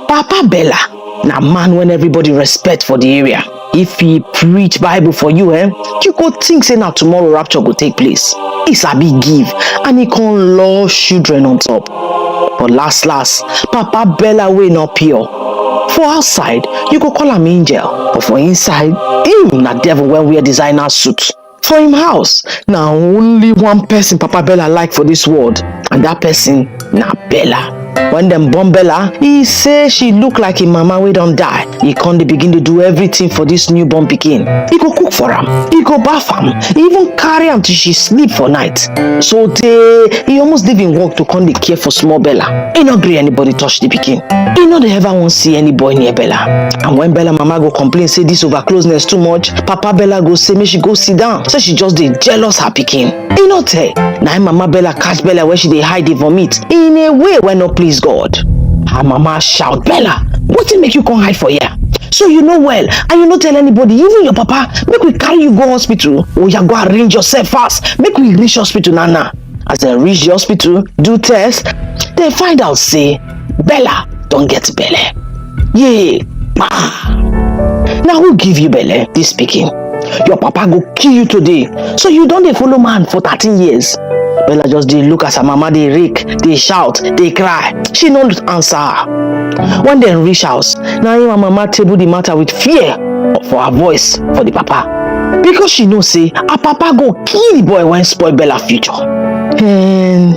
Papa Bella na man when everybody respect for the area. If he preach Bible for you, eh, you go think say na tomorrow rapture go take place. He sabi give and he con love children on top. But last last, Papa Bella wey no pure. For outside, you go call am angel, but for inside, him na devil wey wear designer suit. For im house, na only one person Papa Bella like for this world, and that person na Bella. When dem born Bella, he say she look like im mama wey don die. He come dey begin dey do everything for this newborn pikin. He go cook for am, he go baff am, he even carry am till she sleep for night. So tey, he almost leave im work to come dey care for small Bella. He no gree anybody touch the pikin. He no dey ever wan see any boy near Bella. And when Bella mama go complain say this over closeness too much, papa bella go say make she go sit down say she just dey jealous her pikin e no tey na im mama bella catch bella wey she dey hide dey vomit in a way wey no please god her mama shout bella wetin make you come hide for here so you know well and you no tell anybody even your papa make we carry you go hospital oya go arrange yourself fast make we reach hospital now now as dem reach the hospital do test dem find out say bella don get belle yee ma na who give you belle dis pikin your papa go kill you today so you don dey follow man for thirteen years bella just dey look as her mama dey rake dey shout dey cry she no answer her when dem reach house na im her mama table the matter with fear for her voice for the papa because she know say her papa go kill the boy wey spoil bella future. Hmm.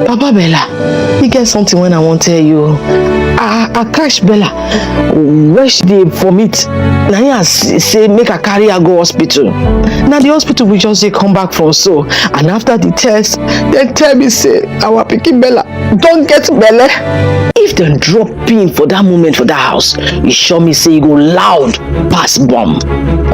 Papa Bella, e get something when I wan tell you. I, I catch Bella wey she dey vomit. Na him I s- say make I carry her go hospital. Na the hospital we just dey come back from so. And after the test, dem tell me say our pikin Bella don get belle. If dem drop pin for that moment for that house e sure me say e go loud pass bomb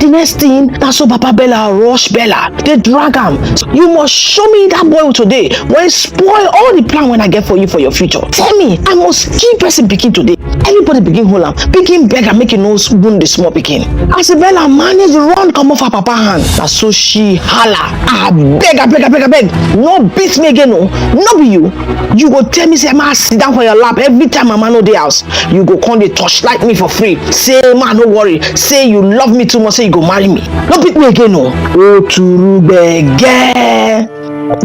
the next thing na so papa bella rush bella dey drag am you must show me that boy today wey spoil all the plan wey i get for you for your future tell me i must kill person pikin today everybody begin hold am begin beg am make e no wound the small pikin as bella manage run comot for papa hand na so she hala abeg abeg abeg abeg no beat me again o no be you you go tell me say ma sit down for your lap every time mama no dey house you go come dey torchlight me for free say ma no worry say you love me too much say you go marry me no pick me again o. oturu gbege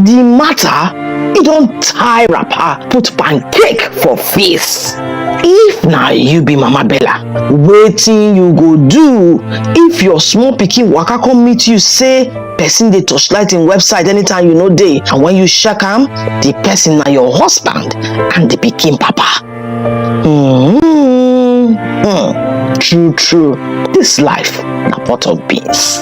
the matter e don tie wrapper put pancake for face if na you be mama bella wetin you go do if your small pikin waka come meet you say person dey torchlight im website anytime you no dey and when you check am the person na your husband and the pikin papa mm Hmm. true true this life na pot of beans.